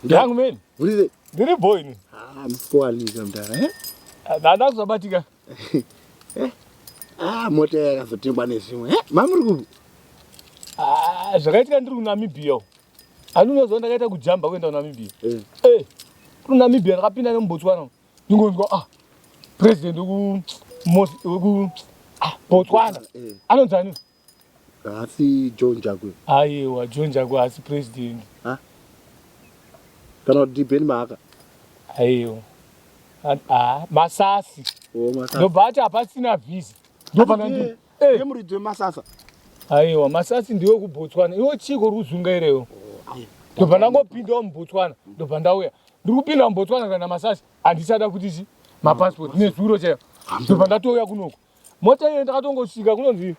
Young man. Urize. Ndiri boy ini. Ah, msikuwanika mdara. Eh? Ndada kuzobatika. Eh? Ah, mota yakazotengwa nezvimwe. Eh? Mamuri kupi? Ah, zvakaitika ndiri kuNamibia. Ani unoziva ndakaita kujamba kuenda kuNamibia. Eh. Eh. KuNamibia ndakapinda nemuBotswana. Ndingonzwa ah. President weku weku ah, Botswana. Eh. Anonzi ani? Haasi John Jagwe. Ayewa John Jagwe haasi president. Ha? Kana kuti Ben Mahaka. Ayewa. Ah, masasi. Oh, masasi. No but hapasina visa. Ndopana ndi. Eh, muridzi wemasasa. Ayewa, masasi ndiwe kuBotswana. Iwo chiko ruzunga irewo. Oh, ayewa. Ndobva ndangopindawo muBotswana. Ndobva ndauya. Ndiri kupinda muBotswana kana masasi. Handisada kuti zi mapassport nezuro chaiyo. Ndobva ndatouya kunoku. Mota iyo ndakatongosvika kunonzi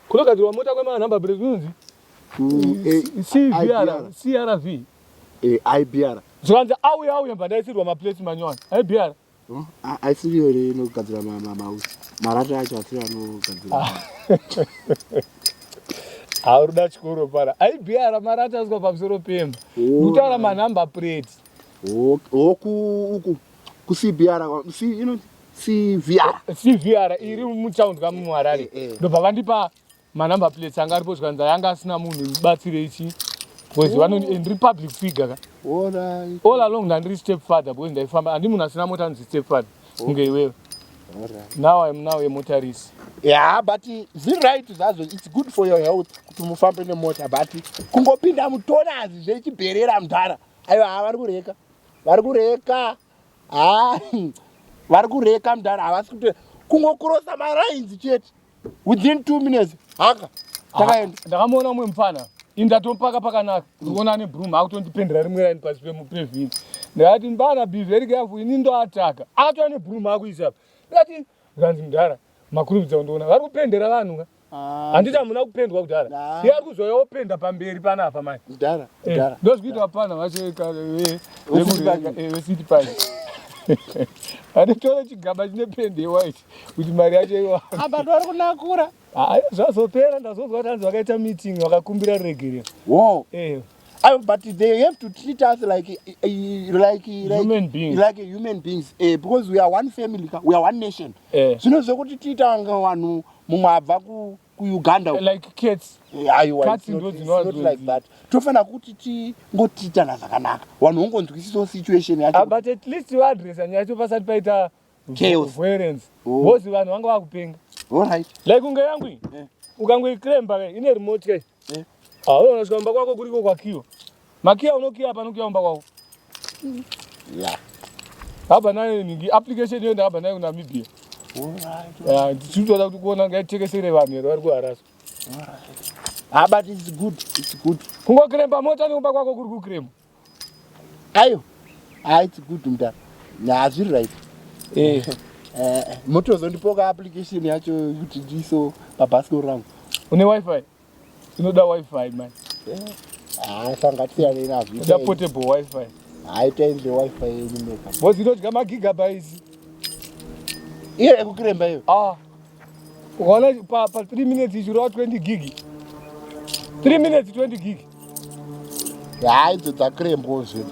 kunogadzirwa mota kwema number plate kunonzi CVR, CRV. Eh, IBR. Zvikanzi auya auya bva ndaisirwa ma plates manyowani. IBR. Oh, aisiriyo here inogadzira mausi marata acho asiri anogadzira ah. hauri da chikoro pana aibr marata aswa pamusoro pemba kutaura oh. manumber plate hoku uku kucbr CVR. CVR iri mutown ka mu Harare. Eh, eh. Ndobva vandipa ma number plates anga aripo zvikanzi anga asina munhu ndibatsire ichi. Because oh. vanoni and republic figure ka. All right. All along ndandiri step father because ndaifamba andi munhu asina mota anzi step father. Oh. Kunge iwewe. All right. Now I'm now a motorist. Yeah, but zi right zvazo it's good for your health kuti mufambe nemota but kungopinda mutonazi zvechibherera mudhara. Ayo havari kureka. Vari kureka. haa ah, hmm. vari kureka mdhara havasi kuto kungokurosa marainzi chete within two minutes haka takaenda ah, ndakamuona umwe mupfana ini ndatompaka pakanaka ndikuona ane broom akutondipendera rimwe raini pasi pemupevhini ndikati mbana be very careful ini ndoataka ato ane broom akuisa apa ndikati zvanzi mdhara makurubidza kundiona vari kupendera vanhu ka Ah, handiti hamuna kupendwa kudhara Nah. iye ari kuzouya openda pamberi panapa mani Kudhara, kudhara. ndozvikuita apana vacho ka- ve- Wesiti vekure- Party. eh, wesiti pari anotora chigaba chine pendi yewhite kuti mari yacho iwa Apa ndori kunakura. Ah, zvazopera ndazonzwa kuti hanzi vakaita meeting vakakumbira ruregerero Wow. Eh, I, but they have to treat us like eh, eh, like like Human beings. like human beings eh, because we are one family ka- we are one nation Eh. zvino zvekuti tiita kunge vanhu mumwe abva kuuganda like cats aiwa cats ndo dzinowazonzi tofanira kuti tingotiitana zvakanaka vanhu vongonzwisisawo situation yacho ah, but at least vaadresa nyaya yacho pasati paita violence oh. because vanhu vanga vakupenga allright like kunge yangu eh. ukangoicremba ine remote kai eh. ah, unoona chikwamba kwako kuriko kwakiwa Makiya unokiya pano kuya umba kwako. Yeah. Haba nayo ningi application hiyo ndahaba nayo kuNamibia. Yeah, tichitoda kuti kuona ngaitekesere vanhu here vari kuharasa. Ah, but it's good. It's good. Kungokiremba mota nekumba kwako kuri kukiremba. Ayo. Ah, it's good mda. Nah, zviri right. Eh. Eh, motozondipoka application yacho kuti ndiso pabhasikoro rangu. Une wifi? Tinoda wifi man. Ah, sanga tiyane na vita. Da portable wifi. Hayi tenze wifi yenyu meka. Bozi inodya ma gigabytes. Iye ekukiremba iyo. Ah. Wala pa pa 3 minutes ichiro 20 gig. 3 minutes 20 gig. Hayi dzakirembo zvinhu.